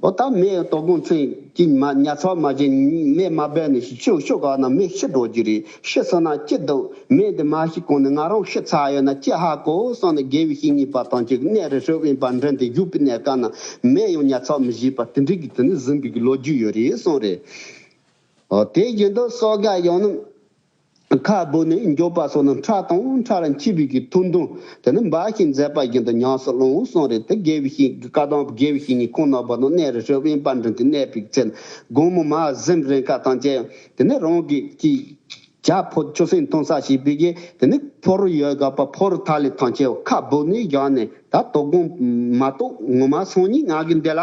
ཨོ་ད་མེ་ཏོ་དགོང་མཚན་གྱི་མ་ཉལ་ཚར་མ་ཞིག་མེ་མ་སྦས་ནས་ཤི་ཆོག་ཤོག་ག་ན་མེ་ཤི་འགྲོ་རྒྱུ་རེད་ཤི་སོང་ན་སྐྱིད་འདུག་མེ་འདི་མ་ཤི་གོང་ནས་ང་རང་ཤི་ཚར་ཡོད་ན་སྐྱིད་ཧ་གོ་སོང་ནས་དགེ་བའི་བཤེས་གཉེན་པ་དང་གཅིག་གནས་རི་ཧྲིལ་དབེན་པར་འགྲིམ་སྟེ་བཞུགས་པའི་གནས་སྐབས་ན་མེ་ཡང་ཉལ་ཚར་མི་བཞེས་པར་དེ་འདྲའི་གི་དེ་ནས་གཟིམ་པའི་གི་ལོ་རྒྱུས་ཡོད་རེད་གསུངས་རེད། ཨོ་དེ་བཞིན་དུ་སོ་ག་ཡང་ནམ་ཁ་སྦུག་ནས་མགྱོགས་པ་སོགས་ནི་ཁྲག་དང་ཁྲག་ལ་འཁྱིལ་བུ་གྱི་ཐུར་འདོན། དེ་ནི་འབའ་ཞིག་མཛད་པ་བཞིན་དུ་ཉམས་སུ་བླངས་བས་སོང་རེད་དེ་དགེ་བའི་བཤེས་ཀྱི་བཀའ་དང་དགེ་བའི་བཤེས་གཉེན་ཁོང་ནང་པ་དང་གནས་རི་ཁྲོད་དབེན་པར་འགྲིམས་ཏེ་གནས་པའི་ཚེ་ན་དགོང་མོ་མར་གཟིམ་རེས་འཁར་དང་བཅས་དེ་ནས་རང་གི་གཅིག་བྱ་ཕོ་ཆུ་སྲིན་འཐུང་ས་ཞིག་བུད་རྗེས་དེ་ནས་ཕོ་རུ་ཡོལ་ག་པ་ཕོ་རུ་ཐག་ལི་ཐང་ཆེ་བ་ཁ་སྦུག་ནས་བཞག་ནས་ད་དོ་དགོང་མ་གཏོགས་ངོ་མ་སང་ཉིན་ང་གིས་འདི་ལ།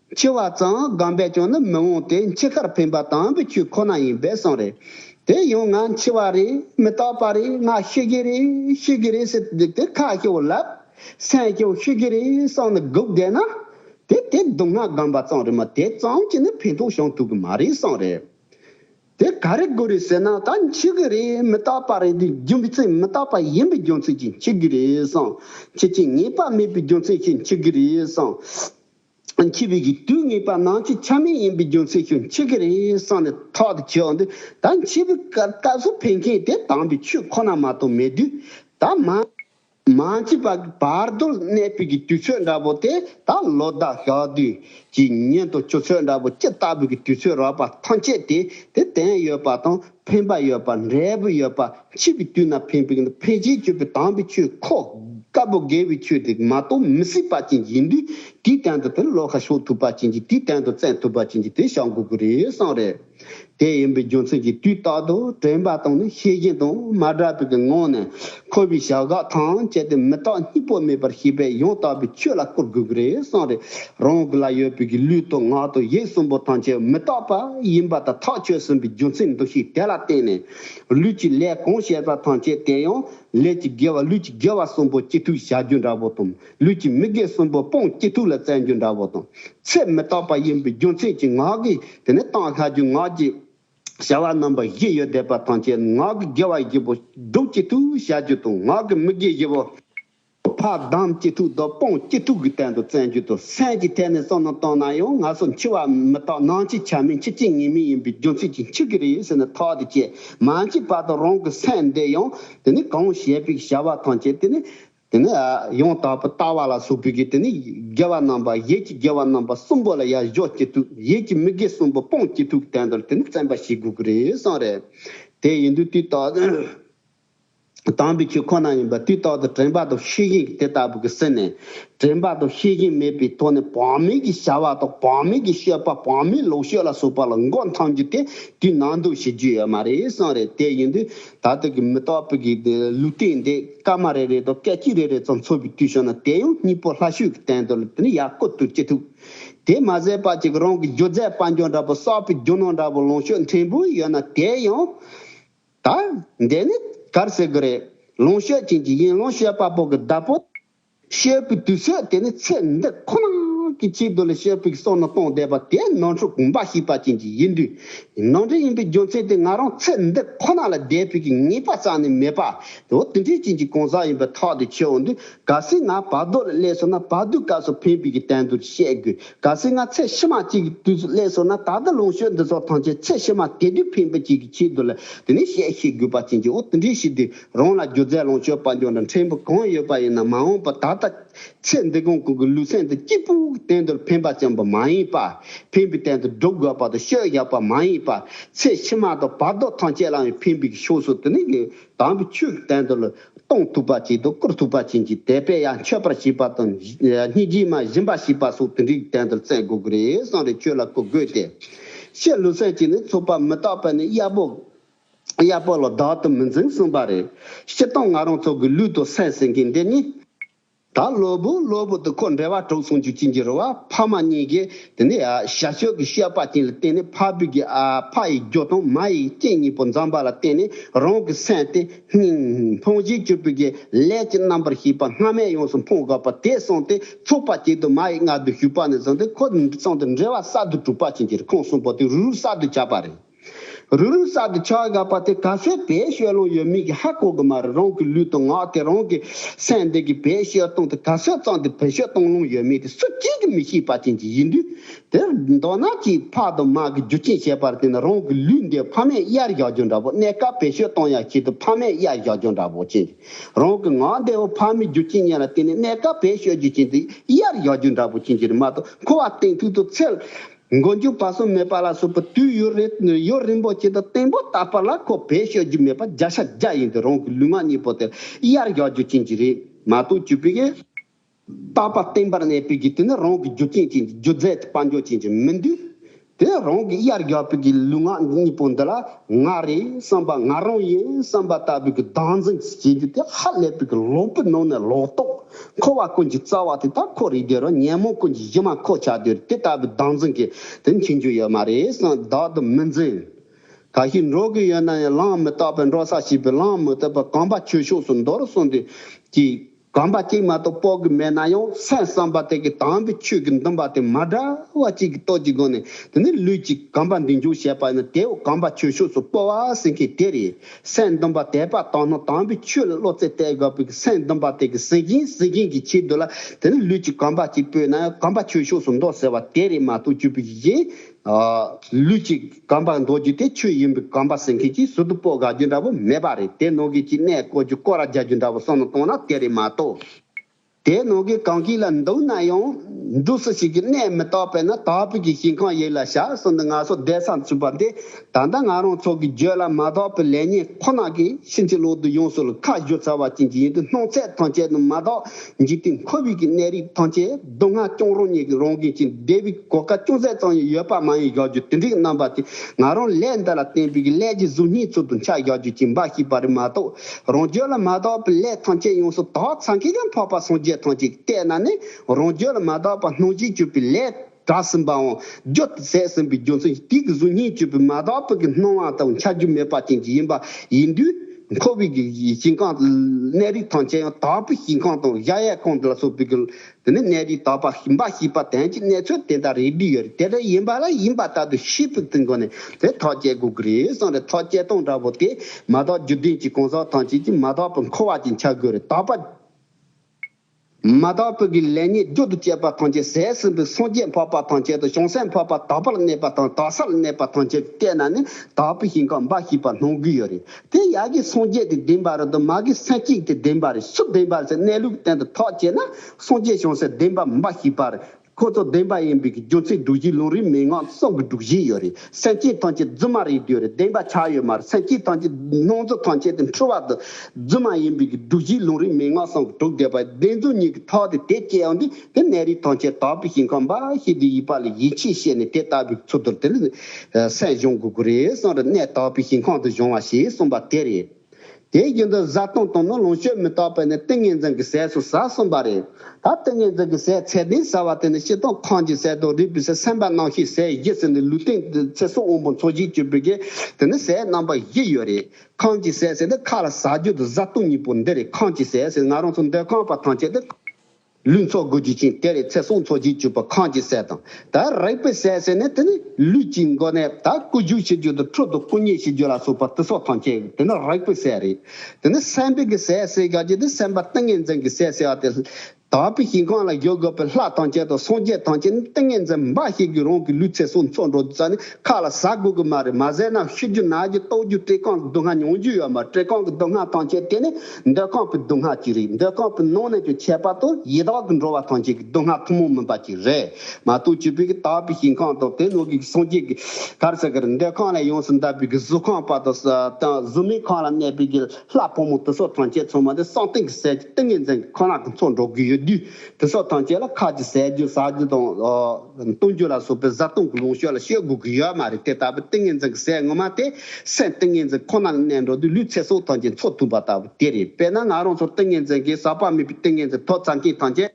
འཆི་བ་ཙམ་སྒམ་པས་ཀྱང་ནི་མི་འོང་སྟེ་འཆི་ཁར་ཕན་པ་དང་པོའི་ཆོས་ཁོ་ན་ཡིན་པས་གསུངས། རེ་དེ་ཡང་ང་འཆི་བ་རེད་མི་རྟག་པ་རེད་ང་ཤི་གི་རེད་ཤི་གི་རེད་ཟེར་དུ་བསྡིགས་ཏེ་ཁ་ཤོ་བསླབ། སེམས་ཀྱང་ཤི་གི་རེད་བསམ་ནས་སྒུག་བསྡད་ན། དེ་དེ་སྡུག་བསྔལ་སྒམ་པ་ཙམ་རེད་མ་དེ་ཙམ་གྱིས་ནི་ཕན་ཐོགས་བྱུང་ཐུབ་གི་མ་རེད་གསུངས། རེ་དེ་ག་རེ་དགོས་རེད་ཟེར་ན་ད་འཆི་གི་རེད་མི་རྟག་པ་རེད་འདི་རྒྱུ་མཚན་མི་རྟག་པ་ཡིན་པའི་རྒྱུ་མཚན་གྱིས་འཆི་གི་རེད་གསུངས། ཁྱེད་ཀྱིས་ངེས་པ་མེད་པའི་རྒྱུ་མཚན་གྱིས་འཆི་གི་རེད་གསུངས། འཆི་བའི་གི་དུས་ངེས་པ་ནང་ཆོས་ཆ་མེད་ཡིན་པའི་རྒྱུ་མཚན་ཤོད་མཆི་གི་རེད་བསམ་ནས་ཐོག་ཏུ་བྱེད་འོང་དུས་ད་འཆི་བའི་སྐབས་སྐབས་སུ་ཕན་མཁན་དེ་དྭངས་པའི་ཆོས་ཁོ་ན་མ་གཏོགས་མེད་དུས་ད་མ་མ་འཆི་བ་གི་བར་དོར་གནས་སྤོས་གི་དུས་ཚོད་འདྲ་པོ་དེ་ད་ལོ་ཟླ་ཞག་དུས་ཀྱི་ཉིན་དང་སྤྱོད་ཚུལ་འདྲ་པོ་ཅི་ལྟ་བུ་གི་དུས་ཚོད་རག་པ་ཐམས་ཅད་དེ་དེ་དེན་ཡོད་པ་དང་འཕེན་པ་ཡོད་པ་འབྲས་བུ་ཡོད་པ་འཆི་བའི་དུས་ན་འཕེན་པའི་འཕེན་བྱེད་སྤྱོད་པའི་དྭངས་པའི་ཆོས་ཁོ། དཀར་པོ་དགེ་བའི་ཆོས་དེ་མ་གཏོགས་མི་སྲིད་པ་ཅན་གྱིས་འདུས་དེའི་སྟེང་དུ་དེར་བློ་ཁ་ཕྱོགས་ཐུབ་པ་ཅན་གྱིས་དེའི་སྟེང་དུ་བཙན་ཐུབ་པ་ཅན་གྱིས་དེ་བཞག་དགོས་ཀྱི་རེད་བསམ་རེད། དེ་ཡིན་པའི་རྒྱུ་མཚན་གྱིས་དུས་རྟག་ཏུ་དྲན་པ་དང་ནི་ཤེས་བཞིན་དང་མ་བྲལ་བའི་ངང་ནས། འཁོར་བའི་བྱ་དགའ་དང་བཅས་ཏེ་མི་རྟག་གཉིས་པོ་མེད་པར་ཤེས་པས་ཡང་དག་པའི་ཆོས་ལ་བཀུར་དགོས་ཀྱི་རེད་བསམ་རེ་རང་གི་ལ་ཡོད་པའི་གི་ལུས་དང་ངག་དང་ཡིད་གསུམ་པོ་ཐམས་ཅད་མི་རྟག་པ་ཡིན་པ་དང་ཐག་ཆོད་ཟིན་པའི་རྒྱུ་མཚན་འདུ་ཤེས་དེ་ལ་བརྟེན་ནས་ལུས་ཀྱི་ལས་གང་བཤད་པ་ཐམས་ཅད་དེ་ཡང་ལས་ཀྱི་དགེ་བ་ལུས་ཀྱི་དགེ་བ་གསུམ་པོ་སྐྱིད་ཐུག་བྱ་རྒྱུ་འདྲ་བོ་དང་ལུས་ཀྱི་མི་དགེ་གསུམ་པོ་སྤང་སྐྱིད་ཐུག་ལ་བཙལ་རྒྱུ་འདྲ་བོ་དང་ཚེ་མི་རྟག་པ་ཡིན་པའི་རྒྱུ་མཚན་གྱིས་ངག་གིས་དེ་ནས་གཏང་ཤ་རྒྱུ་ངག་གིས་བྱ་བ་རྣམ་པ་བཞི་ཡོ་བདེ་བ་དང་བཅས་ངག་གི་དགེ་བ་བཞི་པོ་སྒྲུབ་ཅི་ཐུབ་བྱ་རྒྱུ་དང་ངག་གི་མི་དགེ་བཞི་པོ་ཕ་དམ་གཅིག་དྲུག་དང་དཔུང་གཅིག་དྲུག་གི་སྟེང་དུ་བཙན་རྒྱུ་དང་སེམས་ཀྱི་ཐད་ནས་བསམ་བློ་བཏང་ན་ཡང་ང་སོགས་འཆི་བ་མི་རྟག་ནང་འཆི་ཆ་མེད་འཆི་སྐྱེ་ངེས་མེད་ཡིན་པའི་རྒྱུ་མཚན་གྱིས་འཆི་གི་རེད་ཟེར་ནས་ཐག་དེ་བཅད་མ་འཆི་བར་དུ་རང་གི་སེམས་བདེ་ཡང་དེ་ནི་གང་བྱས་པའི་བྱ་བ་དང་བཅས་དེ་ནི་དེ་ནས་ཡང་དག་པའི་ལྟ་བ་ལ་སོགས་པའི་གེགས་དེ་ནི་དགེ་བ་རྣམ་པ་བཞི་གྱི་དགེ་བ་རྣམ་པ་གསུམ་པོ་ལ་ཡར་གཞོག་སྐྱེ་དུས་ཡིད་ཀྱི་མི་དགེ་གསུམ་པོ་སྤོང་སྐྱེ་དུས་དེ་འདོར་དེ་ནི་བཙན་པ་ཞིག་དགོས་ཀྱི་རེད་བསམ་རེད། དེ་ཡིན་དུས་དུས་རྟག་ཏུ་དམ་པའི་ཆོས་ཁོ་ན་ཡིན་པ་དུས་རྟག་ཏུ་དྲན་པ་དང་ཤེས་བཞིན་གྱི་དེ་ལྟ་བུ་གི་སེམས་ནི་དྲན་པ་དང་ཤེས་བཞིན་མེད་པའི་ཐོག་ནས་བག་མེད་ཀྱི་བྱ་བ་དང་བག་མེད་ཀྱི་ཤོད་པ་བག་མེད་ལོག་ཤོད་ལ་སོགས་པ་ལ་མགོ་འཐམ་རྒྱུ་དེ་དུས་ནང་འདུག་བྱེད་རྒྱུ་ཡོད་མ་རེད་བསམ་རེད་དེ་ཡིན་དུས། ད་ལྟ་གི་མི་རྟོག་པའི་གེགས་དེ་ལུས་རྟེན་འདི་སྐར་མ་རེ་རེ་དང་སྐད་ཅིག་རེ་རེ་ཙམ་འཚོ་བའི་དུས་བྱུང་ན་དེ་ཡང་གཉིས་པོ་ལྷ་ཤུལ་གྱི་སྟན་དུ་ལུས་ནས་ཡར་བཀོད་དུ་ཅི་ཐུབ། དེ་མ་ཟད་པ་ཅིག་རང་གི་སྒྱུ་རྩལ་དཔལ་འབྱོར་འདྲ་པོ་གསར་པའི་རྒྱུ་ནོར་འདྲ་པོ་ལོངས་སྤྱོད་འཐེན་འབུལ་ཡོད་ན་དེ་ཡང། ད། འདི་ནི་གར་ཟེར་གི་རེད། ལོངས་སྤྱོད་ཅན་གྱི་ཡིན་ལོངས་སྤྱོད་པ་པོ་གི་བདག་པོ། བཤད་པའི་དུས་ཚོད་དེ་ནི་ཚེ་འདི་ཁོ་ན་གི་ཆེད་དུ་ལས་བཤད་པའི་སོ་ནི་སྟོང་བཟླས་པ་དེ་ནང་འཁྲུག་འབའ་ཞིག་པ་ཅན་གྱི་ཡིན་དུས། ནང་འདྲེན་ཡིན་པའི་རྒྱུ་མཚན་དེ་ང་རང་ཚེ་འདི་ཁོ་ན་ལ་བཟླས་པའི་གི་ངེས་པ་རྩ་ནས་མེད་པ་དེའོ་དེ་འདྲའི་རྐྱེན་གྱི་གང་ཟག་ཡིན་པའི་ཐག་དེ་ཆོད་འོང་དུས་ག་སྲིད་ང་བར་དོ་ལ་སླེབས་སོང་ན་བར་དོའི་སྐབས་སུ་ཕན་པའི་གི་དན་དུ་བཤད་དགོས་ག་སྲིད་ང་ཚེ་ཕྱི་མ་གཅིག་གི་དུས་སུ་སླེབས་སོང་ན་ད་ལྟ་ལོངས་སྤྱོད་འདི་ཚོ་ཐམས་ཅད་ཚེ་ཕྱི་མ་དེ་དུས་ཕན་པའི་གཅིག་གི་ཆེད་དུ་ལ་དེ་ནས་བཤད་ཤེས་དགོས་པ་ཅན་གྱིའོ་དེ་འདྲའི་ཕྱིར་དུས། རང་ལ་སྒྱུ་རྩལ་ལོངས་སྤྱོད་དཔལ་འབྱོར་འདྲ་འཕྲེང་པོ་གང་ཡོད་པ་ཡིན་ན་མ་འོངས་པར་ད་ལྟ་ཚེ་འདི་གོང་གི་ལུས་སེམས་དང་སྐྱིད་པོའི་གཏན་དུ་ཕན་པ་བརྩོན་པ་མ་ཡིན་པར་ཕན་པའི་གཏན་དུ་སྒྲུབ་དགོས་པ་དང་ཤོས་བཞག་པ་མ་ཡིན་པར་ཚེ་ཕྱི་མ་དང་བར་དོ་ཐམས་ཅད་ལའང་ཕན་པའི་ཕྱོགས་སུ་དུ་ནི་དམ་པའི་ཆོས་ཀྱི་གཏན་དུ་གཏོང་ཐུབ་པ་བྱས་ཏེ་བཀུར་ཐུབ་པ་བྱིན་གྱིས་དད་པས་ཡང་མཆོད་པར་བྱེད་པ་དང་སྙིང་རྗེས་མ་ཞིམ་པར་བྱེད་པ་སོགས་དེ་འདྲའི་གཏན་དུ་བརྩལ་དགོས་ཀྱི་རེད་གསང་རེ་ཆོས་ལ་གོ་དགོས་ཏེ། ཕྱིར་ལུས་སེམས་ཀྱིས་ནི་ཚོགས་པ་མི་རྟག་པས་ནི་གཡར་པོ། གཡས་སྤོ་ལོ་བདག་ཏུ་མི་འཛིན་གསུངས་པ་རེད། སྤྱིར་བཏང་ང་རང་ཚོ་གི་ལུས་དང་སེམས་ཟེར་གྱི་འདི་གཉིས། ད་གློ་བུར་གློ་བུར་དུ་ཁོ་འདྲེ་བ་གྲོགས་ཚང་རྒྱུ་ཅི་འགྱུར་རོ་བ་ཕ་མ་གཉིས་ཀྱིས་དེ་ནས་ཞྭ་སྤྱོད་ཀྱི་ཤེས་པ་ཅན་ལ་བརྟེན་ནས་ཕ་བུ་གྱི་ཨ་ཕ་ཡི་རྒྱུ་དང་མ་ཡི་རྐྱེན་གཉིས་པོ་འཛོམས་པ་ལ་བརྟེན་ནས་རང་གི་སེམས་དེ་སྙིང་ཕུང་བཞིན་སྐྱུར་པོའི་གྱི་ལས་ཀྱི་རྣམ་པར་ཤེས་པ་སྔ་མས་ཡོངས་སུ་འཕོངས་དགོས་པ་དེ་བསྲུངས་ཏེ་ཚོགས་པ་བྱེད་དུ་མ་ཡི་མངལ་དུ་ཞུགས་པ་ནས་བཟུང་སྟེ་ཁོ་ཚང་དུ་འདྲེ་བ་གསར་དུ་གྲུབ་པ་ཕྱིན་ཅི་ལོ་ཁོང་གསུམ་པོ་དེ་རུ་རུ་གསར་དུ་བྱ་བ་རེད། རུ་རུ་ས་དེ་ཆགས་དགའ་བ་དེ་ག་ཚད་བེད་སྤྱོད་ལོང་ཡོད་མིན་གྱི་ཧ་གོ་གི་མ་རེད་རང་གི་ལུས་དང་ངག་དེ་རང་གི་སེམས་འདི་གིས་བེད་སྤྱོད་བཏང་སྟེ་ག་ཚོད་ཙམ་དེ་བེད་སྤྱོད་བཏང་ལོང་ཡོད་མིན་དེ་སུ་གཅིག་གིས་མི་ཤེས་པ་ཅན་གྱི་ཡིན་དུས་དེར་མདོར་ན་གྱིས་ཕ་དང་མ་གི་རྒྱུ་རྐྱེན་བྱས་པར་བརྟེན་ན་རང་གི་ལུས་འདི་ཕ་མས་གཡར་བཞག་རྒྱུ་འདྲ་བོ་གནས་སྐབས་བེད་སྤྱོད་བཏང་ཡག་བྱས་དུས་ཕ་མས་གཡར་བཞག་རྒྱུ་འདྲ་བོ་ཅན་གྱི་རང་གི་ངག་འདི་ཧོ་ཕ་མའི་རྒྱུ་རྐྱེན་ཉེ་ལ་བརྟེན་ནས་གནས་སྐབས་བེད་སྤྱོད་རྒྱུ་ཅན་དེ་གཡར་བཞག་རྒྱུ་འདྲ་བོ་ཅན་གྱི་རི་མ་དང་འཁོར་བ་སྟེང་ཐུག་དུ་ཚལ། མགོ་མཇུག་བར་གསུམ་མེད་པ་ལ་སོགས་པའི་དུས་ཡུན་རིང་པོ་བྱས་ཏེ་སྟེང་པོ་བཏགས་པ་ལ་ཁོ་བེད་ཤོད་རྒྱུ་མེད་པར་བརྒྱ་ཆ་བརྒྱ་ཡིན་ཏེ་རང་གི་ལུས་ངག་གཉིས་པོ་དེར་གཡར་རྒྱག་རྒྱུ་ཅན་གྱི་རིག་མ་གཏོགས་བཅུ་པའི་བཏགས་པ་བརྟན་པར་གནས་པའི་རྒྱུ་དེ་ནི་རང་གི་རྒྱུ་རྐྱེན་ཅན་གྱི་རྒྱུ་རྫས་ཀྱི་དཔལ་འབྱོར་ཅན་གྱི་མི་འདུས་ཏེ་རང་གི་གཡར་རྒྱག་པའི་གི་ལུས་ངག་གཉིས་པོ་འདི་ལ་ང་རེད་བསམ་པ་ང་རང་ཡིན་བསམ་པ་ལྟ་བུའི་གི་སྡང་འཛིན་གྱིས་བྱེད་རྒྱུ་དེ་ཧ་ལས་པའི་གི་ལོག་པའི་ནང་ནས་ལོག་རྟོག། འཁོར་བ་ཀུན་གྱི་རྩ་བ་དེ་དག་འཁོར་རིགས་བདེ་རོ་ཉན་མོངས་ཀུན་གྱི་གཞི་མ་འཁོར་བྱ་དུས་དེ་ལྟ་བུའི་བདག་འཛིན་གྱི་དེ་མཁྱེན་རྒྱུ་ཡོད་མ་རེད་བསམ་བདག་ཏུ་མི་འཛིན། ག་ཞིག་འགྲོ་གི་ཡོད་ན་ཡང་ལངས་མི་རྟག་པའི་འགྲོ་ས་ཞིག་པའི་ལངས་མི་ཐུབ་པར་གང་པ་ཁྱོད་ཕྱོགས་སུ་འདོར་གསུངས་དུས་ཀྱི། གང་པ་གཅིག་མ་གཏོགས་དཔོག་གི་མེད་ན་ཡང་སེམས་བསམ་པ་དེ་གི་དྭངས་པའི་ཆོས་ཀྱི་འདུན་པ་དེ་མ་འདྲ་བ་གཅིག་གི་སྟོབས་ཀྱི་སྒོ་ནས་དེ་ནི་ལུས་ཀྱི་གང་པ་འདི་འཇུག་བྱེད་པ་ཡིན་ན་དེའུ་གང་པ་ཁྱོད་ཕྱོགས་སུ་སྤོ་བ་ཟེར་མཁན་དེ་རེད། སེམས་སྡོམ་པ་དད་པ་དང་ནོར་དང་པོའི་ཆོས་ལ་བློ་རྩེ་གཏད་དགོས་པས་སེམས་སྡོམ་པ་དེ་གཟི་བྱིན་གཟི་བྱིན་གྱི་ཕྱིར་དུ་ལ་དེ་ནི་ལུས་ཀྱི་གང་པ་གཅིག་པོས་ན་གང་པ་ཆོས་ཕྱོགས་སུ་འདོགས་ཟེར་བ་དེ་རེད་མ་གཏོགས་བཅུ་པོ་ཞིག་གིས། ལུས་ཀྱི་གང་པ་འདོགས་རྒྱུ་དེ་ཆོས་ཡིན་པས་གང་པ་ཟེར་མཁན་གྱིས་ཟུར་དུ་སྤོ་དགའ་རྒྱུ་འདྲ་བོ་མེད་པ་རེད་དེ་ནོར་གྱི་གཅིག་གནས་བསྐོར་རྒྱུ་བསྐོར་ར་རྒྱག་རྒྱུ་འདྲ་བོ་སོགས་ནང་གཏོང་ན་དེ་རེད་མ་གཏོགས། དེའི་ནང་གི་གང་ཞིག་ལ་འདུག་ན་ཡང། འབྲུ་སུ་ཞིག་གིས་གནས་མི་རྟག་པས་ན་དྭགས་བོད་ཀྱི་ཞིང་ཁང་ཡིག་ལ་ཞག་གསུམ་དུ་ང་སོགས་བསྡད་མཚམས་བཅུག་པ་འདི་ད་ལྟ་ང་རང་ཚོ་གི་བརྗོད་ལ་མ་དག་པའི་ལེགས་ཉེས་ཁོ་ན་གིས་ཕྱིན་ཅི་ལོག་ཏུ་ཡོངས་སུ་ལ་ཁ་བཞུར་ཚར་བ་ཅན་གྱི་ཡིན་དུས་སྣང་ཚད་ཐམས་ཅད་དུ་མ་དག་འཇིག་རྟེན་ཁོ་བོས་ཀྱི་གནས་རིགས་ཐམས་ཅད་སྡུག་བསྔལ་སྐྱོང་རང་ཉིད་ཀྱི་རང་འགན་ཅིང་བདེ་བའི་གོ་སྐལ་ཅུང་ཟད་ཙམ་ཡང་ཡོད་པ་མ་ཡིན་བཞག་རྒྱུ་དེ་འདྲའི་རྣམ་པ་དེ་ང་རང་ལས་འདི་ལ་བརྟེན་པའི་ཀྱི་ཀླད་ཀྱི་གཟུགས་བརྙན་ཚུལ་དུ་འཆར་བཞག་རྒྱུ་ཅིག་འབའ་ཞིག་པ་རེད་མ་གཏོགས། རང་རྒྱུད་ལ་མ་གཏོགས་པའི་ལས་ཐམས་ཅད་ཡོངས་སུ་དག་ཚང་གིས་ཀྱང་འཕགས་པ་སངས་རྒྱས་ཐམས་ཅད་ཀྱི་ལྟས་ན་ནི་རང་རྒྱུད་ལ་མ་གཏོགས་པར་སྣང་བྱེད་གྱུར་པའི་ལས་གྲགས་ཟིན་པའང་རྒྱུ་ཟད་ཟིན་པའི་རྒྱུ་མཚན་གཅིག་གིས་གཟུགས་བརྙན་གྱུར་པའི་མ་གཏོགས་པའི་ཀྱི་སྣང་བ་དང་འཆར་རྒྱུ་མེད་པ་ཅན་གྱི་ཡིན་པ་ཡིན་དུས་འཁོར་བའི་ཀྱི་ཞིང་ཁམས་གནས་རིགས་ཐམས་ཅད་ཡང་དག་པའི་ཞིང་ཁམས་དང་གཞལ་ཡས་ཁང་ལ་སོགས་པའི་ཀྱི་འདི་ནི་གནས་རིའི་དག་པ་ཞིམ་པ་ཞེས་པ་དན་གྱི་གནས་ཚུལ་དེ་འདྲ་རེ་བྲིས་ཡོད་རེད་དེ་འདྲ་ཡིན་པ་ལ་ཡིན་པ་ལྟར་དུ་ཤེས་ཕུགས་ཏུ་འགོ་ནས་དེ་ཐག་བཅད་དགོས་ཀྱི་རེད་བསམ་རེད་ཐག་བཅད་སྟངས་འདྲ་བོ་དེ་མ་དག་རྒྱུ་ལྡན་གྱི་གང་ཟག་ཐམས་ཅད་ཀྱིས་མ་དག་པའི་འཁོར་བ་ཅན་འཆར་དགོས་རེད་དག་པ་མ་དག་པའི་གི་ལས་ཉེས་སྦྱོར་དུ་བཅས་པ་ཐམས་ཅད་ཟས་ཟིན་པའི་སངས་རྒྱས་འཕགས་པ་ཐམས་ཅད་དང་བྱང་སེམས་འཕགས་པ་དག་པར་གནས་པ་དང་དག་སར་གནས་པ་ཐམས་ཅད་ཀྱི་ལྟས་ན་ནི་དག་པའི་ཞིང་ཁམས་འབའ་ཞེས་པ་སྣང་གི་ཡོད་རེད་དེ་ཡག་གི་སངས་རྒྱས་ཀྱི་བདེན་པ་རེད་དོ་མ་གི་སེམས་གཅིག་གི་བདེན་པ་རེད་སུ་བདེན་པ་སེ་གནས་ལུགས་བསྟན་དུ་ཐོག་བྱས་ན་སངས་རྒྱས་བྱུང་སེ་བདེན་པ་མིན་པ་ཞིག་པ་རེད་ཁོ་ཚོ་བདེན་པ་ཡིན་པའི་གི་རྒྱུ་མཚན་སྒྲུག་གཞི་ལུང་རིགས་མན་ངག་གསུམ་གི་སྒྲུག་གཞི་ཡོད་རེད་སེམས་ཅན་ཐམས་ཅད་རྫུན་མ་རེད་དུས་རེད་བདེན་པ་ཆགས་ཡོད་མ་རེད་སེམས་ཅན་ཐམས་ཅད་སྣང་རྫུན་ཐམས་ཅད་དེ་འཁྲུལ་བ་དུ་རྫུན་མ་ཡིན་པའི་གི་སྒྲུག་གཞི་ལུང་རིགས་མན་ངག་གསུམ་གི་སྒྲུག་བསྡད་པ་བདེན་རྫུན་གཉིས་གི་ཐོག་དེ་དེ་སྐྱེ་བ་འདི། དེ་གནས་རིགས་ཐམས་ཅད་དག་པའི་ཞིང་ཁམས་འབའ་ཞིག་གི་དབྱིབས་པ་ལ་ཡིད་ཆེས་བྱས་ནས་དེ་ལྟ་བུའི་ཚུལ་དུ་དེར་སྲས་གཞུང་དགུ་དགུ་རེ་གསུམ་རེ་གནས་དག་པའི་ཞིང་ཁམས་སུ་བྱུང་བ་ཞེས་གསུངས་པ་དེ་རེད། དེའི་རྒྱུན་དུ་བཟའ་བཏུང་དང་ནི་ལོངས་སྤྱོད་མི་རྟག་པ་ནི་ཏིང་ངེ་འཛིན་གྱི་ཟས་སུ་ཟ་གསུངས་པ་རེད། ད་ཏིང་ངེ་འཛིན་གྱི་ཟས་ཚད་ལྡན་ཟ་བ་དེ་ནི་ཤི་དང་ཁངས་ཀྱི་ཟས་དང་རུས་པའི་ཟས་སེམས་པ་སྣང་བྱེད་ཟས་བཞི་ཟེར་ནས་ལུས་སྟེང་ཚེ་སྲོག་དབང་པོ་མཚོ་བཞིན་གྱུར་པའི་གེགས་དེ་ནི་ཟས་རྣམ་པ་བཞི་ཡོད་རེད། ཁངས་ཀྱི་ཟས་ཟེར་ཏེ་ཁ་ལ་ཟ་རྒྱུ་དང་བཟའ་བཏུང་གཉིས་པོ་འདི་རེད་ཁངས་ཀྱི་ཟས་ཟེར་ང་རང་ཚོ་འདོད་ཁང་པ་ཐམས་ཅད་དེ། ལུས་འཚོ་དགོས་རྒྱུ་ཅན་དེ་རེད་ཚེ་སྲོག་འཚོ་རྒྱུའི་སྤྱོད་པ་གང་ཅི་ཟེར་དང་ད་རེག་པའི་ཟས་ཟེར་ནས་དེ་ནི་ལུས་ཀྱི་མགོ་ནས་ད་བསྐུ་རྒྱུག་བྱེད་རྒྱུ་དང་ཁྲོད་དུ་བསྐུ་མཉེ་བྱེད་རྒྱུ་ལ་སོགས་པ་སྟེ་སྲོག་ཐང་ཁྱད་དེ་ནི་རེག་པའི་ཟས་རེད་དེ་ནི་སེམས་པའི་གི་ཟས་ཟེར་ག་གི་དེ་སེམས་པ་ཏིང་ངེ་འཛིན་གི་ཟས་ཟེར་བ་དེ་དག་པའི་ཞིང་ཁམས་ལ་བཞུགས་དགོས་པའི་ལྷ་ཐང་ཁྱད་དང་སངས་རྒྱས་ཐང་ཁྱད་ནི་ཏིང་ངེ་འཛིན་འབའ་ཞིག་གི་རང་གི་ལུས་ཚེ་སྲོག་འཚོ་འགྲོ་རྒྱུ་ས་ནི་ཁ་ལ་ཟ་དགོས་གི་མ་རེད་མ་ཟས་ན་ཤི་རྒྱུ་ན་རྒྱུ་རྟོག་རྒྱུ་བཀྲེས་ཁང་གི་སྡུག་བསྔལ་མྱོང་རྒྱུ་ཡོད་མ་རེད་བཀྲེས་ཁང་གི་སྡུག་བསྔལ་ཐང་ཁྱད་དེ་ནི་འདོད་ཁམས་པའི་སྡུག་བསྔལ་གྱི་རིགས་འདོད་ཁམས་པའི་ནང་ནས་ཀྱང་ཁྱད་པར་དུ་ཡི་དྭགས་ཀྱི་འགྲོ་བ་ཐམས་ཅད་ཀྱི་སྡུག་བསྔལ་ཐུན་མོང་མིན་པ་གཅིག་རེད་མ་གཏོགས་སྤྱི་ཕན་གྱི་དག་པའི་ཞིང་ཁམས་དང་དེ་ནང་གི་སངས་རྒྱས་ཀྱི་གར་ཟེར་གར་འདོད་ཁམས་ལས་ཡོངས་སུ་འདས་པའི་གཟུགས་ཁམས་པ་དང་གཟུགས་མེད་ཁམས་ལ་གནས་པའི་གྱི་ལྷ་ཕོ་མོ་དེ་སོགས་ཐམས་ཅད་ཚང་མ་དེ་སངས་གཏིང་གི་ཟས་ཀྱི་ཏིང་ངེ་འཛིན་གྱི་ཁོ་ན་གྱི་ཚོགས་འགྲོ་གི་ཡོད་དུས་དེ་སོགས་ཐམས་ཅད་ལ་ཁ་ཅིག་ཟས་རྒྱུ་ཟ་རྒྱུ་དང་བཏུང་རྒྱུ་ལ་སོགས་པའི་བཟའ་བཏུང་གི་ལུང་ཤོད་ལ་ཤོད་དགོས་ཀྱི་ཡོད་མ་རེད་དེ་ལྟ་བུའི་ཏིང་ངེ་འཛིན་གྱི་ཟས་ངོ་མ་དེ། སེམས་ཏིང་ངེ་འཛིན་ཁོ་ན་ལ་གནས་འགྲོ་དུས་ལུས་ཚེ་སྲོག་ཐམས་ཅད་འཚོ་ཐུབ་པ་ལྟ་བུ་དེ་རེད་དཔེར་ན་ང་རང་ཚོར་ཏིང་ངེ་འཛིན་གེ་སར་བག་མེད་པའི་ཏིང་ངེ་འཛིན་ཐོག་ཚང་མཁན་ཐམས་ཅད་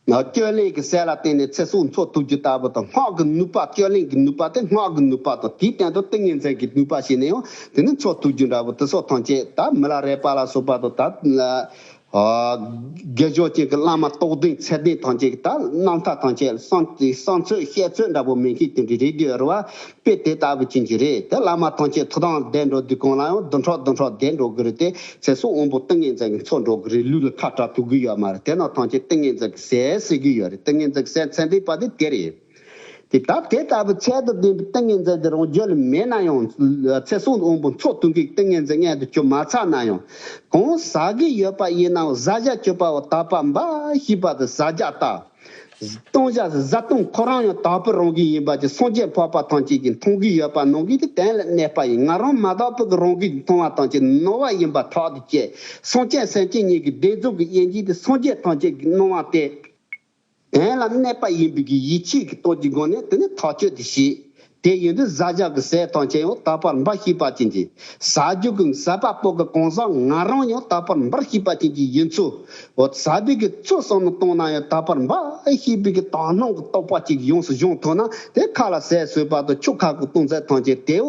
ནི་བཅོས་ལེན་གྱི་ཟས་ལ་བརྟེན་ནས་ཚེ་སྲོག་འཚོ་ཐུབ་རྒྱུ་ལྟ་བུ་དང་སྔགས་ཀྱི་ནུས་པ་བཅོས་ལེན་གྱི་ནུས་པ་དེ་སྔགས་ཀྱི་ནུས་པ་དང་དེའི་སྟེང་དུ་ཏིང་ངེ་འཛིན་གྱི་ནུས་པ་བྱས་ནས་ཡང་དེ་ནི་འཚོ་ཐུབ་རྒྱུ་འདྲ་བུ་དེ་སྲོག་ཐམས་ཅད་དག་མི་ལ་རས་པ་ལ་སོགས་པ་དང་དག་དགེ་སྦྱོར་ཅན་གྱི་བླ་མ་རྟོགས་ལྡན་ཚད་ལྡན་ཐམས་ཅད་ཀྱི་དག་སྣང་མཐའ་ཐམས་ཅད་གསང་དེ་གསང་ཚོད་བཤད་ཚོད་འདྲ་པོ་མིན་གྱི་དོན་གྱི་རིགས་བསྡུས་བར་དཔེ་དེ་ལྟ་བུ་བྱིན་གྱིས་རེ་དེ་བླ་མ་ཐམས་ཅད་ཐུགས་དང་ལྡན་འགྲོ་དུས་གང་ལ་ཡང་བདུན་ཕྲག་བདུན་ཕྲག་བཟླས་འགྲོ་གི་རེད་དེ་ཚེ་སྲོག་དབང་པོ་ཏིང་ངེ་འཛིན་གྱི་ཚོགས་འགྲོ་གི་རེད་ལུས་ལ་ཁ་བྲག་ཐུག་གི་ཡོད་མ་རེད་དེ་རྣམས་ཐམས་ཅད་ཏིང་ངེ་འཛིན་གྱི་ཟས་ཟོས་ཀྱི་ཡོད་རེད་ཏིང་ངེ་འཛིན་གྱི་ཟས་ཚད་ལྡན་པ་དེ་དེ་རེད། དེ་སྟབས་དེ་ལྟ་བུའི་ཚད་དུ་ལྡན་པའི་ཏིང་ངེ་འཛིན་འདི་རང་རྒྱུད་ལ་མེད་ན་ཡང། ཚེ་གཟུངས་དབང་པོ་མཚོ་དུང་གི་ཏིང་ངེ་འཛིན་མངལ་དུ་བཅུག་མ་ཚར་ན་ཡང། གང་ཟ་གི་ཡོད་པ་ཡིན་ནའང་བཟའ་བྱ་སྤྱོད་པ་བ་དག་པ་འབའ་ཞིག་པ་དང་བཟའ་བྱ་དག། བཏུང་བྱ་བཟའ་བཏུང་ཁོ་རང་ཡང་དག་པོའི་རང་གི་ཡིན་པ་ཅི་སངས་རྒྱས་འཕགས་པ་ཐམས་ཅད་ཀྱིས་མཐོང་གི་ཡོད་པ་ནང་གི་དེ་གཏན་ལ་གནས་པ་ཡིན་ང་རང་མ་དག་པོ་གི་རང་གིས་མཐོང་བ་ཐམས་ཅད་ནོར་བ་ཡིན་པ་ཐག་ཏུ་བཅད། སངས་རྒྱས་སེམས་ཅན་གཉིས་ཀྱི་བདེ་སྡུག་གི་དབྱེ་འབྱེད་དེ་སངས་རྒྱས་ཐམས་ཅད་ཀྱིས་སྣང་བ་སྟེ། གདན་ལ་གནས་པ་ཡིན་པའི་གི་ཡིད་ཆེས་ཀྱི་སྟོབས་ཀྱི་སྒོ་ནས་དེ་ནི་ཐག་ཆོད་དུ་བྱས། དེ་ཡིན་དུས་བཟའ་བཅའ་གི་ཟས་ཐང་ཆེན་ཡང་དག་པར་འབར་ཤེས་པ་ཅན་གྱི་ཟ་རྒྱུ་གི་ཟ་བ་པོ་གི་གང་ཟག་ང་རང་ཡང་དག་པར་འབར་ཤེས་པ་ཅན་གྱི་ཡིན་ཚུལ་འོ་ཟ་བའི་གི་ཚུལ་སོགས་ནི་སྟོང་ན་ཡང་དག་པར་འབར་ཤེས་པའི་གི་དག་སྣང་གི་རྟོག་པ་ཅིག་ཡོངས་སུ་སྦྱོང་ཐུབ་ན་དེ་ཁ་ལ་ཟས་ཟོས་པ་དང་ཆུ་ཁ་གི་བཏུང་ཟས་ཐང་ཆེན་དེའུ་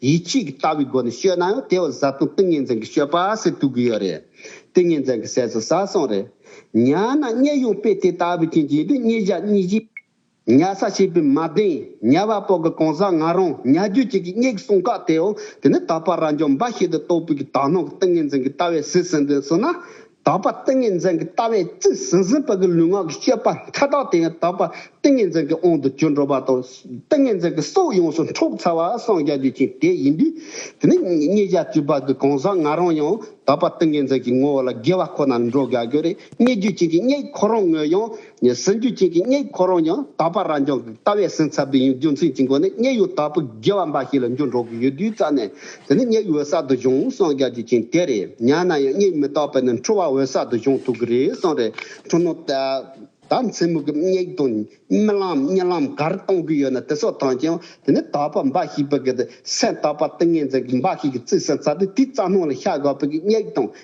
ཡིད་ཆེས་ཀྱི་ལྟ་བའི་སྒོ་ནས་ཤོད་ན་ཡང་དེ་བཟའ་བཏུང་ཏིང་ངེ་འཛིན་གྱི་ཤོད་པ་ཟེར་དུས་གུ་ཡོད་རེད། ཏིང་ངེ་འཛིན་གྱི་ཟས་སུ་ཟ་སོང་རེད། ཉ་ནང་བསྙལ་ཡོང་དཔེ་དེ་ལྟ་བུ་ཅན་གྱིས་འདུག་གཉིས་བཞག་གཉིས་བཞི། ཉ་ས་བྱས་པའི་མ་གདེང་ཉ་བ་པོ་གི་གང་ཟག་ང་རང་ཉ་རྒྱུད་ཅིག་གིས་བསྙལ་གི་གསུང་ཁག་དེའོ་དེ་ནི་ད་བར་རང་བྱུང་འབའ་ཞིག་ཏུ་གཏོགས་པའི་གི་དག་སྣང་གི་ཏིང་ངེ་འཛིན་གྱི་ལྟ་བས་ཟིལ་ཟིན་དོན་བསུ་ན། དག་པ་ཏིང་ངེ་འཛིན་གྱི་ལྟ་བས་རྩིས་ཟིན་ཟིན་པའི་ལུས་ངག་གི་སྤྱོད་པ་མཐའ་དག་དེ་ཡང་དག་པ་ཏིང་ངེ་འཛིན་གྱི་དབང་དུ་གྱུར་འགྲོ་བ་དང། ཏིང་ངེ་འཛིན་གྱི་སྲོག་ཡོངས་སུ་འཕྲོག་ཚར་བ་སངས་རྒྱ་རྒྱུ་ཅན་དེ་ཡིན་དུས། དེ་ནི་གཉིས་ཀ་སྤྱོད་པ་གི་གང་ཟག་ང་རང་ཡང་དག་པ་ཏིང་ངེ་འཛིན་གྱི་ངོ་བོ་ལ་དགེ་བ་ཁོ་ནར་འགྲོ་དགའ་དགོས་རེ་སྙེག་རྒྱུ་ཅན་གྱི་སྙེག་ཁོ་རང་ངོས་ཡང་ངས་སེམས་རྒྱུད་ཅན་གྱི་སྙིང་ཁོ་རང་ཡང་དག་པ་རང་རྐྱང་གི་ལྟ་བའི་སེམས་ཚབ་དེ་ཡང་རྒྱུ་མཚན་གྱི་སྒོ་ནས་སྙིང་ཡང་དག་པའི་དགེ་བ་འབའ་ཞིག་ལ་འཇུག་འགྲོ་གི་ཡོད་དུས་རྩ་ནས་དེ་ནི་སྙིང་འོད་གསལ་དུ་བྱུང་སངས་རྒྱ་རྒྱུ་ཅན་དེ་རེད་སྙམ་ན་ཡང་སྙིང་མི་རྟག་པས་ནི་འཁྲུལ་བ་འོད་གསལ་དུ་བྱུང་ཐུབ་གི་རེད་བསམ་རེ་འཁྲུལ་ནོ། ད་མཚན་མོ་གི་སྙིང་དང་རྨི་ལམ་རྨྱི་ལམ་ག་རེ་གཏོང་གི་ཡོད་ན་དེ་སོགས་ཐམས་ཅད་ཡང་དེ་ནི་དག་པ་འབའ་ཞིག་པའི་གི་སེམས་དག་པ་ཏིང་ངེ་འཛིན་གྱི་འབའ་ཞིག་གི་རྩིས་སེམས་ཚབ་དེ་དེའི་རྩ་སྣང་ལ་ཤར་དགོས་པའི་གི་སྙིང་དང་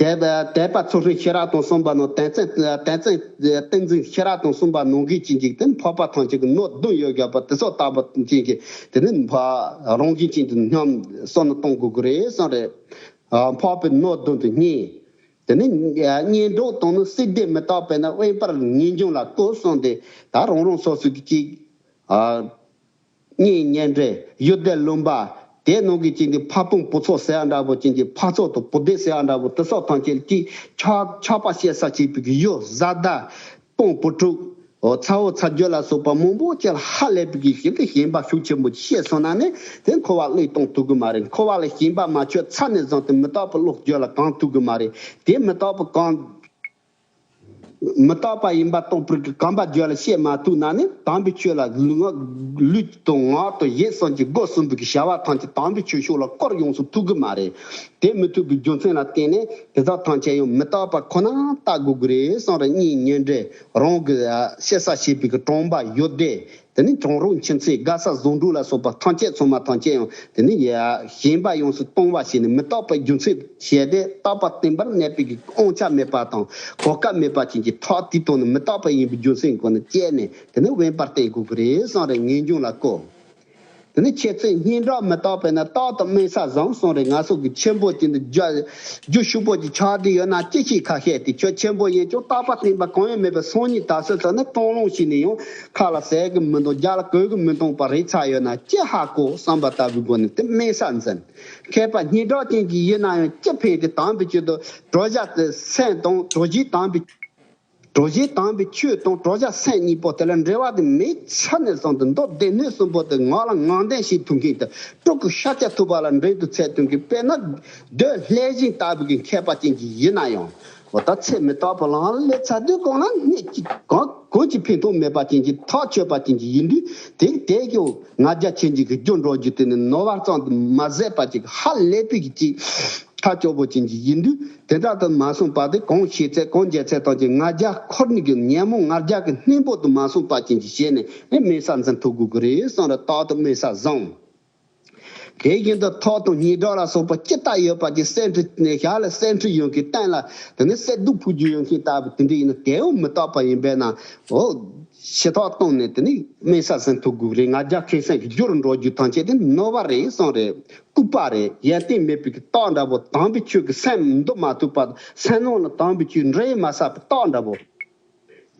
དད་པ་ཚུལ་ཁྲིམས་ཤེས་རབ་དང་གསུམ་པ་ནོ། དད་རྩེ་ཏིང་འཛིན་ཤེས་རབ་དང་གསུམ་པ་ནོ། གིས་བྱིན་ཅིག་དེ་འཕགས་པ་ཐམས་ཅད་ཀྱི་སྣོད་བདུན་ཡོད་རྒྱ་བོད་དེ་སྲོག་བཏགས་པ་བྱིན་ཅིག་དེ་ནི་འཕགས་རང་བྱིན་ཅིག་དེ་སྙམ་བསམ་ནི་གཏོང་དགོས་ཀྱི་རེད་བསམ་རེད། འཕགས་པའི་སྣོད་བདུན་དུ་བསྙེན། དེ་ནི་བསྙེན་སྒྲུབ་དང་ནི་སྲིད་སྡེ་མི་རྟག་པས་ན་དབེན་པར་ངེས་འབྱུང་ལ་བཀོད་གསུངས་ཏེ་ད་རང་རང་སོ་སོ་གྱིས་ཅིག། གཉིས་གཉེན་འབྲེལ་གཡུལ་སྡེ་བླུན་པ། དེའི་ནང་གི་གཅིག་ནི་ཕ་སྤུན་སྤུ་ཚོགས་ཟེར་བ་འདྲ་བོ་གཅིག་གི་ཕ་ཚོགས་དང་བུ་སྡེ་ཟེར་བ་འདྲ་བོ་དེ་སོགས་ཐམས་ཅད་ཀྱིས་ཆགས་ཆགས་པ་བཤད་ས་གཅིག་པུ་གཡུ་བཟའ་ཟླ། སྤུན་སྤུ་དྲུག། ཚ་བོ་ཚ་རྒྱུད་ལ་སོགས་པ་མང་པོ་བཅས་ཧ་ལས་པའི་གི་ཞིག་གི་ཞེན་པ་ཤུགས་ཆེན་པོ་གྱིས་བཤད་སོང་ན་ནི་དེ་འཁོར་བ་བློས་གཏོང་ཐུབ་གི་མ་རེད་འཁོར་བ་ལ་ཞེན་པ་མ་ཆོད་ཚ་ནས་བཟང་སྟེ་མི་རྟག་པའི་བློ་བཅོས་ལ་གང་ཐུབ་གི་མ་རེད་དེ་མི་རྟག་པའི་གང། མི་རྟག་པ་ཡིན་པ་རྟོགས་པར་གྱིས་གང་པ་བརྗོད་ལ་བཤད་མ་ཐུག་ན་ནི་དམ་པའི་ཆོས་ལ་ལུས་དང་ངག་དང་བཞེད་གསུམ་གྱི་སྒོ་གསུམ་པོའི་བྱ་བ་ཐམས་ཅད་དམ་པའི་ཆོས་ཕྱོགས་ལ་སྐོར་ཡོངས་སུ་ཐུག་གི་མ་རེད། དེ་མི་ཐུག་པའི་རྒྱུ་མཚན་ལ་བརྟེན་ནས་དེ་དག་ཐམས་ཅད་ཡང་མི་རྟག་པ་ཁོ་ན་ལྟ་དགོས་ཀྱི་རེད་གསུངས་རེ་གཉིས་ཉེ་འབྲེལ་རང་གི་བཤད་ས་བྱས་པའི་གྲོང་པ་ཡོད་དེ་དེ་ནི་གྲོང་རོགས་མཁྱེན་བརྩེ་དགའ་ས་བཟང་དྲུག་ལ་སོགས་པ་ཐམས་ཅད་ཚོགས་མ་ཐམས་ཅད་ཡང་དེ་ནི་ཡལ་ཡ། ཞེན་པ་ཡོངས་སུ་གཏོང་བ་ཞེས་ནི་མི་རྟག་པའི་རྒྱུ་མཚན་བཤད་དེ་རྟག་པ་བརྟན་པར་གནས་པའི་གི་དབང་ཆ་མེད་པ་དང་གོ་སྐབས་མེད་པ་ཅན་གྱི་ཕྲག་དེའི་དོན་ནི་མི་རྟག་པ་ཡིན་པའི་རྒྱུ་མཚན་གོ་ནི་བཅད་ནས་དེ་ནི་དབེན་པར་བསྟན་དགོས་ཀྱི་རེད་བསམ་རེ་ངེས་འབྱུང་ལ་བཀོད། དེ་ནི་ཁྱེད་ཚོས་སྙན་གྲགས་མི་རྟག་པས་ན་རྟག་ཏུ་དམན་ས་བཟང་སོང་རེད་ང་སོགས་ཀྱི་ཆེན་པོ་དེ་འདྲ་རྒྱུ་ཤུག་པོ་གྱི་ཆགས་བསྡད་ཡོད་ན་ཅི་ཞིག་ཁ་ཤས་དེ་ཁྱོད་ཆེན་པོ་ཡིན་ཀྱང་རྟག་པ་བརྟན་པ་གང་ཡང་མེད་པའི་སང་ཉིན་ད་གཟོད་ཚོ་ནི་སྤྲང་ལུང་ཞིག་ནས་ཡང་ཁ་ལ་ཟས་གི་མི་འདུག་རྒྱ་ལ་གོས་གི་མི་འདུག་པ་རེད་ཆགས་ཡོད་ན་ཅི་ཧ་གོ་བསམ་པ་ལྟ་བུའི་སྒོ་ནས་དེ་དམན་ས་འཛིན་མཁས་པ་སྙན་གྲགས་ཅན་གྱི་ཡིན་ན་ཡང་ཅི་ཕན་གྱི་དམ་པའི་ཆེད་དུ་གྲོ་བཞག་དེ་སེམས་དང་གྲོ་བཞིའི་དམ་པའི། གྲོ་བཞིན་དྭངས་པའི་ཆུ་དང་གྲོགས་བྱ་སེམས་གཉིས་པོ་དེ་ལ་འབྲེལ་བ་དེ་མེད་ཆ་ནས་བཟུང་སྟེ་མདོ་སྡེ་སྣོད་གསུམ་པོ་དེ་ངག་ལ་ངག་འདྲེན་བྱེད་ཐུབ་མཁན་དེ་སྤྲུལ་སྐུ་ཤཱཀྱ་ཐུབ་པ་ལ་འབྲེལ་དུ་ཚད་ཐུབ་མཁན་དཔེར་ན་འདོད་ལྷའི་སྦྱིན་ལྟ་བུ་གི་མཁས་པ་ཅན་གྱི་ཡིན་ན་ཡང་བ་ད་ཚེ་མི་རྟག་པ་ལའང་ལས་ཚ་དུས་གང་ན་གནས་གཅིག་གང་གོས་ཀྱི་འཕེན་ཐུང་མེད་པ་ཅན་གྱི་ཐག་ཆོད་པ་ཅན་གྱི་ཡིན་དུས་དེ་དེ་ཀྱང་ང་རྒྱ་ཆེན་གྱི་གི་རྒྱུ་འགྲོགས་རྒྱུ་དེ་ནི་ནོར་བར་གཙང་དུ་མ་ཟད་པ་ཅིག་ཧ་ལས་པའི་གི་ཅིག་ཐག་ཆོད་པོ་ཅན་གྱི་ཡིན་དུས། དེ་དག་ཏུ་མ་གསུངས་པ་དེ་གང་ཤེས་ཚད་གང་འཇལ་ཚད་དག་ཅིང་ལྔ་བརྒྱ་འཁོར་ནི་གི་ཉན་མོ་ལྔ་བརྒྱ་གི་སྣེ་པོ་དུ་མ་གསུངས་པ་ཅན་གྱིས་བྱས་ནས་ནི་དམེ་ས་འཛིན་ཐུགས་དགུག་གི་རེ་ཟུང་ར་དྭགས་དུ་དམེ་ས་བཟང། དེ་བཞིན་དུ་ཐོག་དང་སྙི་སྒྲོག་ལ་སོགས་པ་ཅི་ལྟ་ཡོད་པ་ཅི་གསེར་ཁྲི་ནས་བཞག་ལ་གསེར་ཁྲི་ཡོད་མཁན་བསྟན་ལ་དེ་ནི་གསེར་གདུགས་ཕུག་རྒྱུ་ཡོད་མཁན་ལྟ་བུ་དེ་འདྲ་ཡིན་ན་དེ་འོ་མི་རྟག་པ་ཡིན་པས་ན་འོ། ཞེས་ཐོག་བཏང་ནས་དེ་ནི་དམེ་ས་འཛིན་ཐུགས་དགུག་རེ་ལྔ་བརྒྱ་མཁན་སེང་གི་རྒྱུར་འགྲོ་རྒྱུ་ཐམས་ཅད་དེ་ནི་ནོར་བ་རེ་ཟུང་རེ་ལྐུགས་པ་རེད་ཡལ་སྟེང་མེད་པའི་གི་ཏོག་འདྲ་པོ་དྭངས་པའི་ཆོས་ཀྱི་སེམས་མདོ་མ་ཐུག་པར་སེམས་ནང་ལ་དྭངས་པའི་ཆོས་འདྲེས་མ་ཟག་པའི་ཏོག་འདྲ་པོ།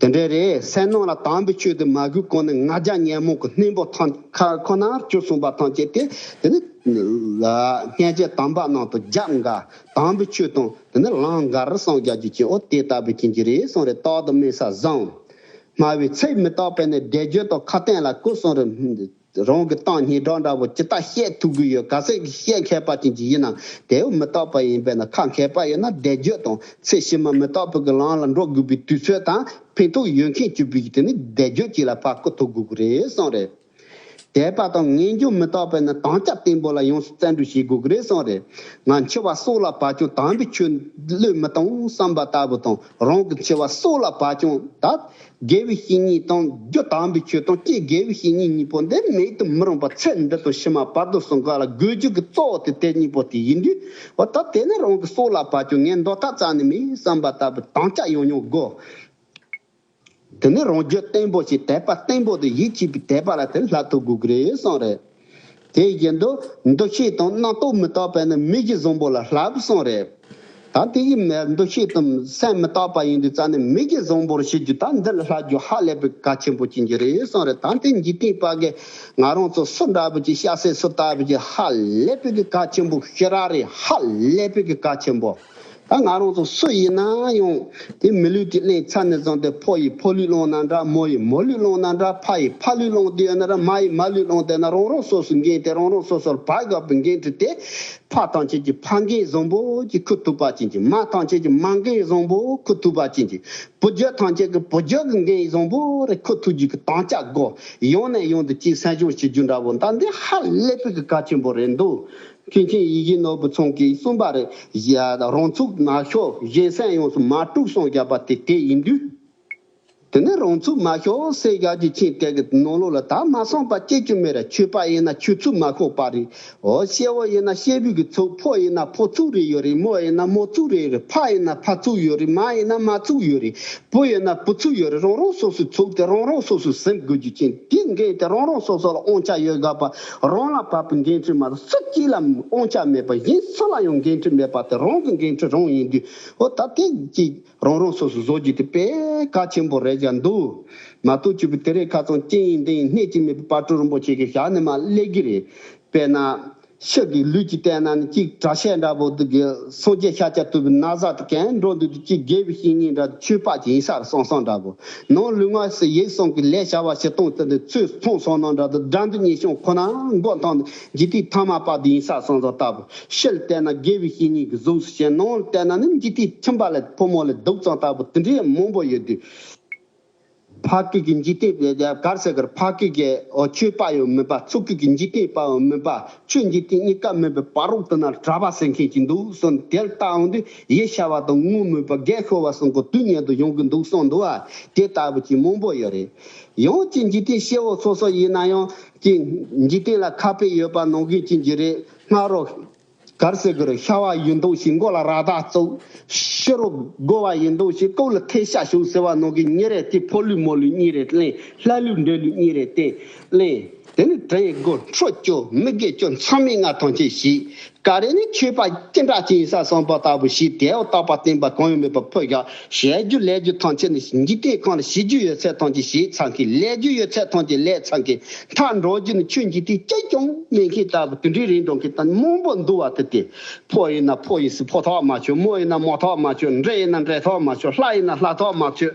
དེ་འདྲས་རེད་སེམས་ནང་ལ་དྭངས་པའི་ཆོས་དེ་མ་གུས་གོང་ནས་ང་རྒྱ་ཉན་མོང་གི་སྣེ་འབོག་ཐང་ཁ་ཁོ་ནར་བཅུག་གསུངས་པ་ཐང་བཅད་དེ་དེ་ནི། སྔས་བཅད་དམ་པ་ནང་དུ་རྒྱབ་འགའ་དྭངས་པའི་ཆོས་དང་དེ་ནི་ལངས་འགར་སངས་རྒྱ་རྒྱུ་ཅན་ཨོ་དེ་ལྟ་བུའི་ཅན་གྱི་རེད་གསུངས་རེ་དོག་ཏུ་སྨྲས་ས་བཟང། སྨྲ་བའི་ཚིག་མི་རྟག་པས་ནི་བསྒྲེས་བརྗོད་དང་ཁ་བསྟན་ལ་ཀུ་སུང་རེ། རང་གི་སྟངས་སྙིགས་གྲོགས་འདྲ་བོ་ཇི་ལྟ་བཤད་ཐུབ་གི་ཡོད་ག་ཚད་ཀྱི་བཤད་མཁས་པ་ཅན་གྱི་ཡིན་ནམ་དེའུ་མི་རྟག་པ་ཡིན་པས་ན་ཁ་མཁས་པ་ཡིན་ན་བཟླས་བརྗོད་དང་ཚད་གཞི་མ་མི་རྟག་པའི་གི་ལངས་ལ་འགྲོ་དགོས་པའི་དུས་ཚོད་དང་ཕན་ཐོགས་ཡོད་མཁན་གྱི་བུ་དེ་ནི་བཟླས་བརྗོད་ཅིག་ལ་བར་སྐུ་ཐོབ་དགོས་གི་རེད་བསམ་རེད་དད་པ་དང་ངན་སྦྱོང་མི་རྟག་པས་ན་དྭངས་སྐྱ་བརྟན་པོ་ལ་ཡོངས་སུ་བཙན་འགྲུལ་བྱེད་དགོས་གི་རེད་བསམ་རེད་ང་འཆི་བ་སྲོག་ལ་བབ་ཀྱང་དམ་པའི་ཆོས་བློས་མི་བཏང་བསམ་པ་ལྟ་བུ་དང་རང་གི་འཆི་བ་སྲོག་ལ་བབ་ཀྱང་ད་དགེ་བའི་བཤེས་གཉེན་དང་རྒྱུ་དག་པའི་ཆོས་དང་བཅས་དགེ་བའི་བཤེས་གཉེན་གཉིས་པོ་འདི་མེད་དུ་མི་རུང་བར་ཚེ་འདི་དང་ཕྱི་མ་བར་དུ་བསྲུང་དཀའ་ལ་དགོས་འཇུག་གི་གཙོ་བོ་དེ་དེ་གཉིས་པོ་དེ་ཡིན་དུས། ད་དེ་ནི་རང་གི་སྲོག་ལ་བབ་ཀྱང་ངས་མདོ་ཐ་ཚ་ནི་མིན་བསམ་པ་ལྟ་བུའི་དམ་བཅའ་ཡང་ཡང་བསྒོ། དེ་ནི་རང་རྒྱུད་བརྟན་པོ་ཞིག་དད་པ་བརྟན་པོ་དང་ཡིད་ཆེས་པའི་དད་པ་ལ་དེ་ལྷག་ཐུགས་དགོས་ཀྱི་རེད་བསམ་རེད། དེའི་རྗེས་མདོ་མདོ་ཤེས་དང་རྣག་ཏོག་མི་རྟག་པས་ནི་མིག་གི་གཟུང་པོ་ལ་ལྷ་བུ་སྲང་རེ། ད་དེ་ཡི་མལ་མདོ་ཤེས་དང་སེམས་མི་རྟག་པ་ཡིན་དུས་རྩ་ནི་མིག་གི་གཟུང་པོར་བྱེད་རྒྱུ་ད་འདི་ལ་ལྷ་རྒྱུ་ཧ་ལས་པའི་ག་ཆེན་པོ་ཅན་གྱི་རེ་སྲང་རེ་ད་དེ་འཇིག་རྟེན་དཔའ་གས་ང་རང་ཚོ་སུ་འདྲ་བུ་ཅི་ཤ་ཟས་སུ་ལྟ་བུ་ཅི་ཧ་ལས་པའི་གི་ག་ཆེན་པོ་ཤི་ར་རེ་ཧ་ལས་པའི་གི་ག་ཆེན་པོ། ད་ང་རང་ཚོ་སུ་ཡིན་ན་ཡང་དེ་མི་ལུས་ཀྱི་གླིང་ཚ་ནས་བརྫངས་ཏེ་ཕོ་ཡི་ཕོ་ལུས་བླངས་ན་འདྲ་མོ་ཡི་མོ་ལུས་བླངས་ན་འདྲ་ཕ་ཡི་ཕ་ལུས་བླངས་དུས་ན་ར་མ་ཡི་མ་ལུས་བླངས་དེ་ན་རང་རང་སོ་སོའི་འགན་དེ་རང་རང་སོ་སོར་བག་དགའ་བོའི་འགན་དྲི་སྟེ། ཕ་ཐང་ཆེན་གྱི་ཕ་འགན་བཟང་བོ་གྱིས་ཁུར་ཐུབ་པ་ཅན་གྱི་མ་ཐང་ཆེན་གྱི་མ་འགན་བཟང་བོ་ཁུར་ཐུབ་པ་ཅན་གྱི་བུ་རྒྱུད་ཐང་ཆེན་གྱི་བུ་རྒྱུད་ཀྱི་འགན་བཟང་བོ་རེ་ཁུར་ཐུབ་རྒྱུ་གི་དམ་བཅའ་སྒོ་ཡང་ནས་ཡང་དུ་གཅིག་སྲན་ཤོང་བྱེད་རྒྱུ་འདྲ་བོ་ད་འདི་ཧ་ལས་པའི་གི་ཀ་ཆེན་པོ་རེད་འདུག་མཁན་ཆེན་ཡེ་ཤེས་ནོར་བུ་ཚང་གིས་གསུངས་པ་རེད། རང་ཚུགས་ནག་ཤོག་གཞན་སེམས་ཡོངས་སུ་མ་དཀྲུགས་སངས་རྒྱ་བ་དེ་དེ་ཡིན་དུས། དེ་ནི་རང་ཚུགས་མ་ཤོག་སེ་རྒྱག་རྒྱུ་ཆེན་དེ་གི་ནོར་ལུག་ལ་ད་མ་སངས་པ་སྐྱེ་རྒྱུ་མེད་རེད་ཆོས་པ་ཡིན་ན་ཆོས་ཚུགས་མ་ཤོག་པ་རེད་འོ་ཤེ་བོ་ཡིན་ན་ཤེ་བོའི་གི་ཚུགས་ཕོ་ཡིན་ན་ཕོ་ཚུགས་རེད་ཡོད་རེད་མོ་ཡིན་ན་མོ་ཚུགས་རེད་ཡོད་རེད་ཕ་ཡིན་ན་ཕ་ཚུགས་ཡོད་རེད་མ་ཡིན་ན་མ་ཚུགས་ཡོད་རེད་བུ་ཡིན་ན་བུ་ཚུགས་ཡོད་རེད་རང་རང་སོ་སོའི་ཚུགས་དེ་རང་རང་སོ་སོས་ཟིན་དགོས་རྒྱུ་ཆེན་དེ་འགན་དེ་རང་རང་སོ་སོ་ལ་དབང་ཆ་ཡོད་དགའ་བ། རང་ལ་བབ་པའི་འགན་འཁྲི་མ་གཏོགས་སུ་གཅིག་ལའང་དབང་ཆ་མེད་པ་བཞིན་སུ་ལ་ཡང་འགན་འཁྲི་མེད་པ་དེ་རང་གི་འགན་འཁྲི་རང་ཡིན་དུས་འོ་ད་དེ་གཅིག་རང་རང་སོ་སོས་བཟོ་རྒྱུ་དེ་དཔེ་ག་ཆེན་པོ་རེད་བཞག་འདུག་མ་གཏོགས་བཅུ་པོ་དེ་རེས་ཁ་ཚང་གཅིག་ཡིན་འདི་ཡིན་སྣེ་གཅིག་མེད་པའི་དཔའ་སྤྲུལ་རིན་པོ་ཆེ་གི་ཞག་ནི་མ་ཀླད་གི་རེད། དཔེར་ན། ཤི་གི་ལུས་ཀྱི་སྟེང་ན་ནི་གཅིག་གྲྭ་ཤས་འདྲ་བོ་འདུག་གི་སངས་རྒྱས་ཤཱཀྱ་ཐུབ་པའི་ན་བཟའ་དེ་གས་འགྲོ་འདུག་དུས་གཅིག་རྒས་པའི་བཤེས་གཉེན་འདྲ་དུ་ཆོས་འཕགས་ཀྱི་ཡིན་ས་རུ་སང་སང་འདྲ་བོ། ནང་ལུས་ངག་ཟས་ཡིད་གསུམ་གྱི་ལས་བྱ་བ་བྱེད་སྟངས་དེ་ནི་ཚོས་མཐོང་སོ་ནང་འདྲ་དང་སྒྲ་འདི་གཉིས་བྱུང་ཁོ་ནའང་མགོ་འཐོམས་ནས་ཇི་ལྟའི་མཐའ་མ་དཔག་དུས་ཡིན་ས་སོང་ཙང་ལྟ་བུ། ཕྱིར་བལྟས་ན་དགེ་བའི་བཤེས་གཉེན་གྱི་གཟུགས་སུ་ཞེན་ནང་བལྟས་ན་ནི་ཇི་ལྟའི་ཁྱིམ་པ་ལས་ཕོ་མོ་ལས་སྡུག་ཙང་ལྟ་བུ་དེ་འདྲའི་མང་པོ་ཡོད་དུས། ཕ་སྐད་ཀྱི་འཇིག་རྟེན་པའི་རྒྱ་གར་ཟེར་ཀར་ཕ་སྐད་ཀྱི་ཆོས་དཔའ་ཡང་མིན་པ་མཚོ་སྐད་ཀྱི་འཇིག་རྟེན་དཔའ་ཡང་མིན་པ་ཆོས་འཇིག་རྟེན་གཉིས་ཀ་མིན་པའི་བར་རོགས་དུ་ན་གྲྭ་པ་ཟེར་མཁན་གྱི་འདུག་གསུངས་དེར་ལྟ་འོང་དུས། ཡེ་ཤ་བ་དང་སྔོན་སྨོས་པ་བརྒྱད་ཤོར་བ་སོང་གི་དུས་ཉལ་དུ་ཡོང་གི་འདུག་སོང་འདུག་ཨ་དེ་ལྟ་བུ་གྱི་མང་པོ་ཡོད་རེད། ཡང་ཅི་འཇིག་རྟེན་གཤེད་བོ་སོ་སོ་ཡིན་ན་ཡང་ཅི་འཇིག་རྟེན་ལ་ཁ་དཔེ་ཡོད་པ་ནང་གི་ཅི་འཇིག་རེད་སྔགས་རོ། གར་སེ་གུར་ཤ་བ་ཡིན་འདུག་ཤི་མགོ་ལ་ར་དག་བཙུགས། ཤི་རོ་རྒོ་བ་ཡིན་འདུག་ཤི་སྟོབས་ལ་ཐལ་ཤ་ཞུགས་ཟེར་བ་ནང་གི་གཉིས་རེད་དེ་ཕོ་ལུས་མོ་ལུས་གཉིས་རེད་གླེང་ལྷ་ལུས་འདྲེ་ལུས་གཉིས་རེད་དེ་གླེང། དེ་ནི་དྲི་ཡི་དགུ་ཁྲོ་སྐྱོ་མི་དགེ་སྐྱོ་མཚམས་མེད་ལྔ་ཐམས་ཅད་ཞི། ཀ་རས་ནི་མཆོད་པ་སྐྱེ་འགྲོ་སྐྱེ་ཡི་ས་གསང་བ་ལྟ་བུ་ཞི་དེའོ་རྟག་པར་བསྟན་པ་གང་ཡང་མེད་པར་འཕོ་བཞག་ཞལ་བསྒྱུར་ལས་བསྒྱུར་ཐམས་ཅད་ནི་འཇིག་རྟེན་ཁམས་ལ་ཞི་རྒྱུ་ཡོད་ཚད་ཐམས་ཅད་ཞིའི་ཚང་གིས་ལས་རྒྱུ་ཡོད་ཚད་ཐམས་ཅད་ལས་ཚང་གིས་མཐའ་འགྲོ་རྒྱུ་ནི་ཆོས་འཇིག་རྟེན་སྐྱེ་སྐྱོང་གནས་མཁན་ལྟ་བུ་དུད་འགྲོའི་རིན་འགྲོ་མཁན་དང་རྨོངས་པོ་འདུ་བ་དེ་སྟེ། ཕོ་ཡིན་ན་ཕོ་ཡིན་སྲིད་ཕོ་ཐོགས་མ་ཆོད་མོ་ཡིན་ན་མོ་ཐོགས་མ་ཆོད་འདྲེ་ཡིན་ན་འདྲེ་ཐོགས་མ་ཆོད་ལྷ་ཡིན་ན་ལྷ་ཐོགས་མ་ཆོད།